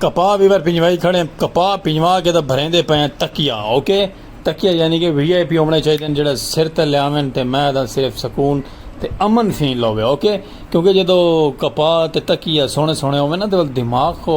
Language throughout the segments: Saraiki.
کپاہ ویور پنجوائی کھڑیں کپاہ پنجوا کے تاں بھریندے پئے ہیں تکیہ اوکے تکیہ یعنی کہ وی آئی پی ہووݨے چاہیدن جیڑھا سر تے لیاون تے میں تاں صرف سکون تے امن فیل ہووے اوکے کیونکہ جدو کپاہ تے تکیہ سوہنے سوہنے ہووے نا تے دماغ کو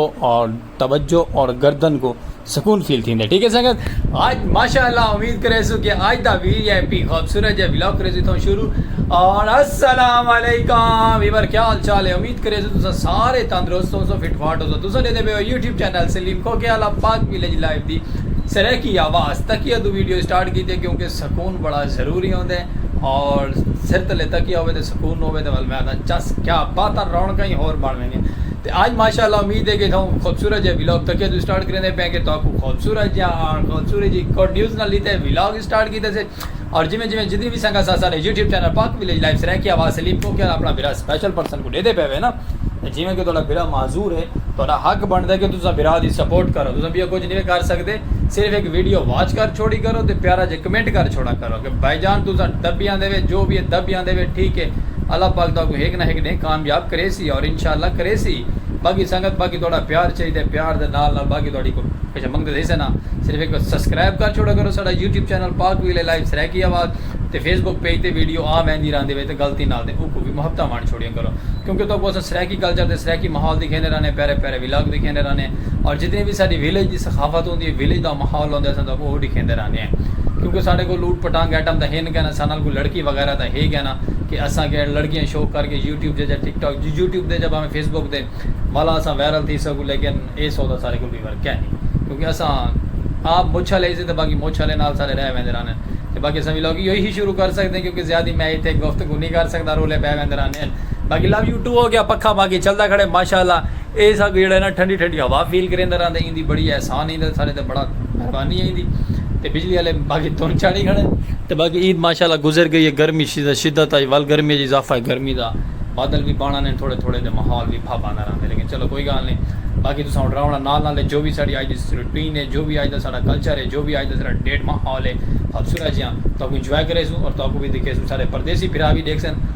توجہ اور گردن کو سکون فیل تھیندے ٹھیک ہے سنگت آج ماشاءاللہ امید کرے سو کہ آج دا وی اے پی خوبصورت جے ولاگ کرے سو تھوں شروع اور السلام علیکم ویور کیا حال چال ہے امید کرے سو تسا سارے تندرست ہو سو فٹ فاٹ ہو سو تسا دے دے پے ہو یوٹیوب چینل سلیم کو کے والا پاک ویلیج لائف دی سرائیکی آواز تکیہ دو ویڈیو سٹارٹ کیتے کیونکہ سکون بڑا ضروری ہوندے اور سر تلے تکیہ ہوے تے سکون ہوے تے ول میں آدھا چس کیا باتاں رونکاں ہی ہور بن ویندیاں تے آج ماشاء اللہ امید ہے کہ تھاوں خوبصورت جیہا ولاگ تکیہ توں سٹارٹ کریندے پئے کہ تہاکوں خوبصورت جیہا آن خوبصورت جیہی گڈ نیوز نال لیتے ہوئے ولاگ سٹارٹ کیتے سے اور جویں جویں جتنی وی سنگت ساڈے YouTube channel Pak village life سرائیکیا وا سلیم پوکیا دا اپنا بھرا سپیشل پرسن کوں ڈیدے پئے ہوے نا تے جویں کہ تہاڈا بھرا معذور ہے تہاڈا حق بندا ہے کہ تساں بھرا دی سپورٹ کرو تساں بیاں کچھ نی کر سکدے صرف ہک ویڈیو واچ کر چھوڑی کرو تے پیارا جیہا کمنٹ کر چھوڑا کرو کہ بھائی جان تساں دبی آندے وے جو وی ہے دبی آندے وے ٹھیک ہے اللہ پاک تہاکوں ہک نہ ہک ڈینہہ کامیاب کریسی اور انشاءاللہ کریسی باقی سنگت باقی تہاڈا پیار چاہیدا ہے پیار دے نال نال باقی تہاڈی کوئی کچھ منگدے تھئی سے نا صرف ہک سبسکرائب کر چھوڑا کرو ساڈا یوٹیوب چینل پاک ویل اے لائیو سرائیکی آواز تے فیس بک پیج تے ویڈیو آ ویندی راہندی وے تے غلطی نال تے اوکوں وی محبتاں ونڈ چھوڑیاں کرو کیونکہ تہاکوں اساں سرائیکی کلچر تے سرائیکی ماحول دکھیندے رہنے پیارے پیارے ولاگ ڈکھیندے رہنے ہیں اور جتنی بھی ساڈی ویلیج دی ثقافت ہوندی ہے ویلیج دا ماحول ہوندے اساں تہاکوں اوہ ڈکھیندے رہنے ہیں کیونکہ ساڈے کول لوٹ پٹانگ ایٹم تاں ہن کینا ساڈے نال کوئی لڑکی وغیرہ تاں ہے کینا کہ اساں کہہ لڑکیاں شوق کر کے یوٹیوب جیجا ٹک ٹاک جی یوٹیوب دے جا بھاویں فیس بک دے والا اساں وائرل تھی سکوں لیکن اے سودا ساڈے کول وی ورکہ نہیں کیونکہ اساں آپ مچھ والے ہیسے تاں باقی مچھ والے نال ساڈے رہ ویندے رہنے ہیں تاں باقی اساں ولاگ ایہی شروع کر سکدے ہیں کیونکہ زیادہ میں ایتھے گفتگو نہیں کر سکدا رولے پے ویندے رہنے ہیں باقی لو یو ٹو ہو گیا پکھا باقی چلدا کھڑے ماشاءاللہ اے ساکوں جیڑھا نا ٹھنڈی ٹھنڈی ہوا فیل کریندا رہندا ایں دی بڑی احسان ایں دا ساڈے تے بڑا مہربانی ایں دی تے بجلی والے باقی دھن چاڑھی کھڑے تے باقی عید ماشاءاللہ گزر گئی ہے گرمی شدت شدت ائی ول گرمی اچ اضافہ ہے گرمی دا بادل وی بانڑا نے تھوڑے تھوڑے تے ماحول وی بھپ آندا رہندا لیکن چلو کوئی گال نی باقی تساں اڈ راونا نال نال جو وی ساڈی اج دی روٹین ہے جو وی اج دا ساڈا کلچر ہے جو وی اج دا ساڈا ڈیٹ ماحول ہے خوبصورت جیاں تہاکوں انجوائے کریسوں اور تہاکوں وی دکھیسوں ساڈے پردیسی بھرا وی ڈیکھسن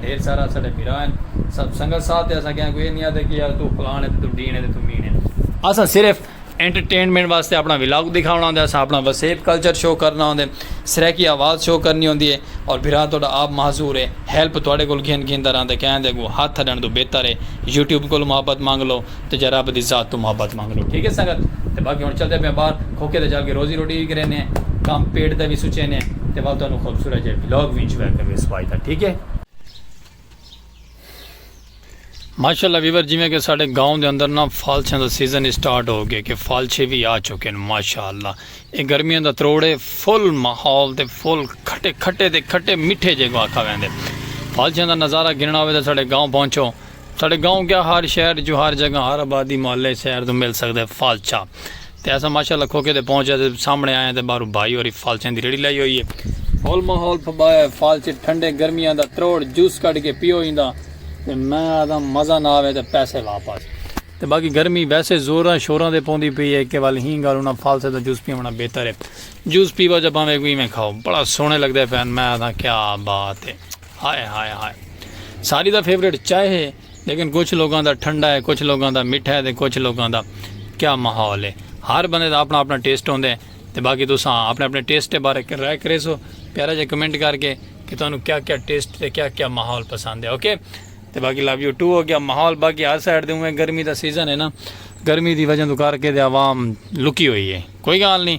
ڈھیر سارے اساڈے بھرا ہن۔ سب سنگت صاحب تے اساں کہیں کوں اے نی آدھے کہ یار توں فلان اے تے توں ڈھین اے تے توں مین اے۔ اساں صرف انٹرٹینمنٹ واسطے اپنا ولاگ دکھاونا ہوندے اساں اپنا وسیب کلچر شو کرنا ہوندے سرائیکی آواز شو کرنی ہوندی اے اور بھرا تہاڈا آپ معذور اے ہیلپ تہاڈے کول گھن گھن دا رہندے کہیں دے اگوں ہتھ اڈن توں بہتر اے یوٹیوب کولوں محبت منگ لو۔ تے جا رب دی ذات توں محبت منگ لو ٹھیک ہے سنگت تے باقی ہن چلدے پیاں باہر کھوکے تے چل کے روزی روٹی وی کرینے ہیں کم پیٹ دا وی سوچینے ہیں تے ول تانوں خوبصورت جے ولاگ وی انجوائے کرویس بائی دا ٹھیک ہے۔ ماشاءاللہ ویور جیویں کہ ساڈے گاؤں دے اندر نا فالچھاں دا سیزن اسٹارٹ ہو گئے کہ فالچھے وی آ چکے ہیں ماشاءاللہ اے گرمیاں دا تروڑ ہے فل ماحول تے فل کھٹے کھٹے تے کھٹے میٹھے جے کو آکھا ویندے فالچھاں دا نظارہ گھننا ہوے تے ساڈے گاؤں پہنچو ساڈے گاؤں کیا ہر شہر اچوں ہر جگہ ہر آبادی محلے اچ سیر توں مل سگدے فالچہ تے اساں ماشاءاللہ کھوکھے تے پہنچے تے سامنے آئے تے باہروں بھائی ہوری فالچیاں دی ریڑھی لائی ہوئی ہے ہول ماحول پھبایا ہے فالچے ٹھنڈے گرمیاں دا تروڑ جوس کڈھ کے پیو ایندا تے میں آکھدا مزہ نہ آوے تے پیسے واپس تے باقی گرمی ویسے زوراں شوراں تے پوندی پئی ہے کہ ول ہی گل انہاں فالچے دا جوس پیونڑاں بہتر ہے جوس پیوا جا بھانویں کوئی ایویں کھاؤ بڑا سوہنے لگدے پین میں آکھداں کیا بات ہے۔ ہائے ہائے ہائے ساری دا فیوریٹ چائے ہے لیکن کچھ لوگوں دا ٹھنڈا ہے کچھ لوگوں دا مٹھا ہے تے کچھ لوگوں دا کیا ماحول ہے ہر بندے دا اپنا اپنا ٹیسٹ ہوندے تے باقی تساں اپنے اپنے ٹیسٹ دے بارے رائے کرے سو پیارا جے کمنٹ کر کے کہ تانوں کیا کیا ٹیسٹ تے کیا کیا ماحول پسند ہے اوکے تے باقی لو یو ٹو ہو گیا ماحول باقی ہر سائڈ دے ہوئے گرمی دا سیزن ہے نا گرمی دی وجہ تو کر کے تے عوام لکی ہوئی ہے کوئی گال نہیں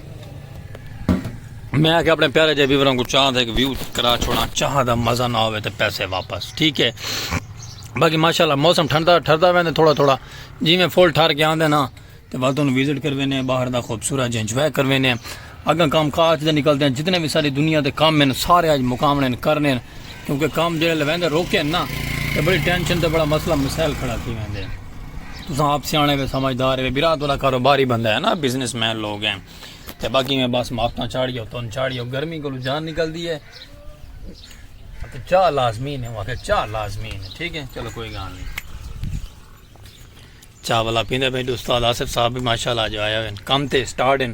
میں آ کے اپنے پیارے جے ویوراں کو چاہاں تھے کہ ویو کرا چھوڑا چاہاں دا مزہ نہ ہوئے تے پیسے واپس ٹھیک ہے باقی ماشاءاللہ موسم ٹھنڈا ٹھردا ویندے تھوڑا تھوڑا جی میں فل ٹھر کے آندے نا تے بعد انہوں وزٹ کر وینے باہر دا خوبصورت جے انجوائے کر وینے اگاں کام کاج دے نکلتے ہیں جتنے بھی ساری دنیا دے کام میں سارے آج مقامنے کرنے کیونکہ کام جڑے لویندے روکے نا تے بڑی ٹینشن تے بڑا مسئلہ مسائل کھڑا تھی ویندے ہیں تساں آپ سیانے وے سمجھدار وے برا تو کاروباری بندہ ہے نا بزنس مین لوگ ہیں تے باقی میں بس مافتاں چاڑیو تن چاڑیو گرمی کو جان نکل دی ہے تے چاہ لازمی نے ہوا کہ چاہ لازمی نے ٹھیک ہے چلو کوئی گان نہیں چاہ والا پیندے بھائی استاد آصف صاحب بھی ماشاءاللہ جو آیا ہے کم تے سٹارٹ ہیں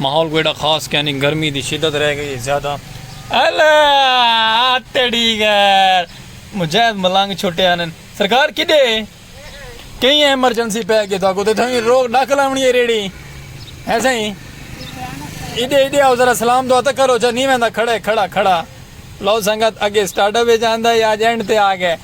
ماحول کوئی ایڈا خاص کیا نی گرمی دی شدت رہ گئی زیادہ الا تیڈی غیر مجاہد ملنگ چھٹے آنن سرکار کدے کئی ایمرجنسی پہ گئے تھا کو تے تھیں روک ڈاک لاونی ہے ریڑی ہے سہی ایڈے ایڈے آؤ ذرا سلام دعا تک کرو چا نہیں ویندا کھڑے کھڑا کھڑا لو سنگت اگے سٹارٹ اپ وچ آندا یا جینڈ تے آ گئے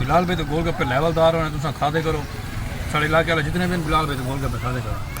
بلال بھائی تو گول گپے لیول دار ہونے تساں کھا دے کرو ساڑے علاقے والے جتنے بھی بلال بھائی تو گول گپے کھا دے کرو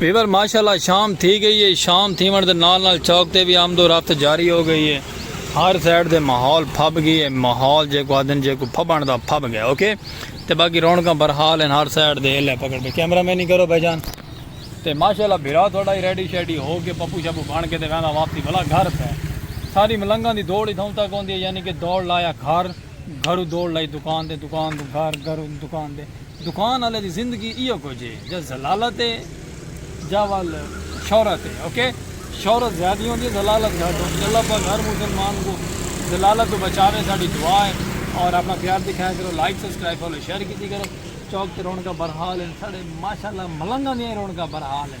ویور ماشاءاللہ شام تھی گئی اے شام تھیون دے نال نال چوک تے وی آمد و رفت جاری ہو گئی اے ہر سائیڈ دے ماحول پھب گی اے ماحول جیکو آدھن جیکو پھبن دا پھب گئے اوکے تے باقی رونکاں برحال ہن ہر سائیڈ دے ہلے پکڑ پے کیمرہ مین ہی کرو بھائی جان تے ماشاءاللہ بھرا تھوڑا ہی ریڈی شیڈی ہو کے پپو شپو بن کے تے ویندا واپسی بلا گھر تے ساری ملنگاں دی دوڑ ہی تھاؤں تک ہوندی ہے یعنی کہ دوڑ لایا گھر گھرو دوڑ لائی دکان دے دکان توں گھر گھر دکان دے دکان آلے دی زندگی ایہو کجھ ہے جا ذلالت ہے جا ول شہرت ہے اوکے شہرت زیادی ہوندی ہے ذلالت گھٹ ہوندی ہے اللہ پاک ہر مسلمان کو ذلالت تو بچاوے ساڈی دعا ہے اور اپنا پیار دکھایا کرو لائک سبسکرائب فالو شیئر کیتی کرو چوک تے رونقاں برحال ہیں ساڈے ماشاءاللہ ملنگاں دیاں رونقاں برحال ہیں